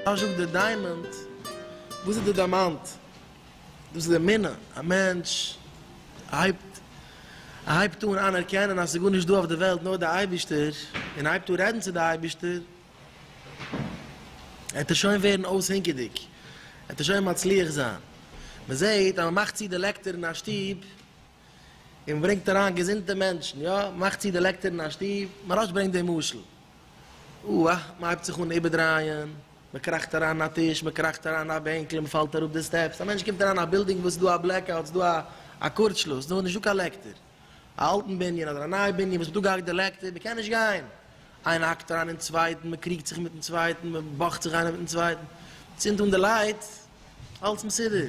אַזש אױף דער דײַמאָנד. װאָס איז דער דײַמאַנד? דאָס איז די מינע. אַ מענטש הײבט, ער הײבט אָן אַנערקענען, אַז ס'איז גאָרנישט דאָ אױף דער װעלט, נאָר דער אײבערשטער, און ער הײבט אָן רעדן צו דער אײבערשטער. עט ער שוין ווערן אויסהענגעדיג, עט ער שוין מצליח זיין. מען זעט אז מען מאכט צו די לעקטער אין א שטוב, און מען ברענגט אריין געזונטע מענטשן, יא, מען מאכט צו די לעקטער אין א שטוב, מהראש ברענגט דעם משל, אוה א, מען הייבט זיך אן איבערדרייען, מען קראכט אריין אין א טיש, מען קראכט אריין אין א בענקל און מען פאלט אראפ די סטעפס, א מענטש קומט אריין אין א בילדינג וואס איז דא א בלעק אוט, ס'איז דא א קורצשלוס, ס'איז נישטא קיין לעקטער. א אלטן בנין אדער א נייע בנין וואס איז דא געהאקט די לעקטער מ'קען נישט גיין, איינער האקט אריין אין צווייטן, מ'קריגט זיך מיטן צווייטן, מ'באכט זיך איינער מיטן צווייטן, צינד אן די לייט, אלס מסודר,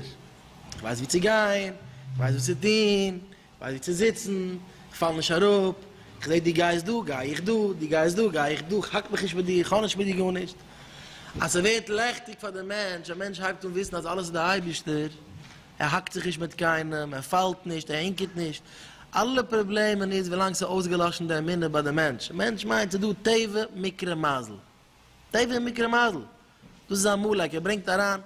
כ'ווייס ווי צו גיין, כ'ווייס וואס צו טון, כ'ווייס ווי צו זיצן, כ'פאל נישט אראפ, כ'זעה דו גייסט דא, גיי איך דא, דו גייסט דא, גיי איך דא, כ'האק מיך נישט מיט דיר, כ'האב נישט מיט דיר גארנישט, אז ס'ווערט לעכטיג פאר די מענטש, א מענטש הייבט אן וויסן אז אלעס איז די אייבערשטער, ער האקט זיך נישט מיט קיינעם, ער פאלט נישט, ער הינקעט נישט, אלע פראבלעמען איז ווילאנג ס'איז אויסגעלאשן די אמונה ביי די מענטש, מענטש מיינט ס'איז דא טבע מקרה מזל, טבע און מקרה מזל, דאס איז עמלק, ער ברענגט אריין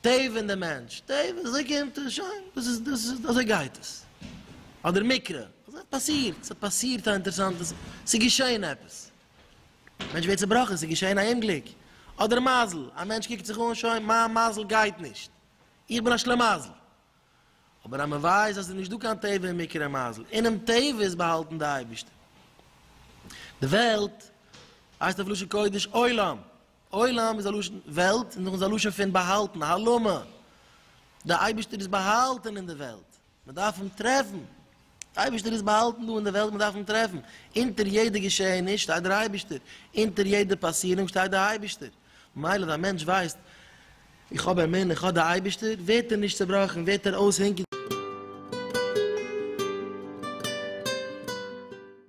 טבע אין די מענטש, טבע, אזוי קומט עס, שוין, דאס איז, דאס איז, אזוי גייט עס, אדער מקרה, אזוי האט פאסירט, ס'האט פאסירט א אינטערעסאנטע זאך, ס'איז געשען עפעס, מענטש ווערט צובראכן, ס'איז געשען א אומגליק, אדער מזל, א מענטש קוקט זיך אן, שוין, מיין מזל גייט נישט, איך בין א שלמזל. אבער א מווייז אז עס איז נישט דא קיין טבע און מקרה מזל. אינעם טבע איז באהאלטן די אייבערשטער. די וועלט הייסט אויף לשון קודש עולם. עולם איז א לשון וועלט און דאך איז א לשון פון באהאלטן, הלמא. די אייבערשטער איז באהאלטן אין די וועלט. מען דארף אים טרעפן, דער אייבערשטער איז באהאלטן דא אין דער וועלט, מען דארף אים טרעפן, אונטער יעדע געשעעניש שטייט דער אייבערשטער, אונטער יעדע פאסירונג שטייט דער אייבערשטער, ממילא ווען א מענטש ווייסט, איך האב אמונה, איך האב דער אייבערשטער, ווערט ער נישט צעבראכן, ווערט ער אויס הונקער.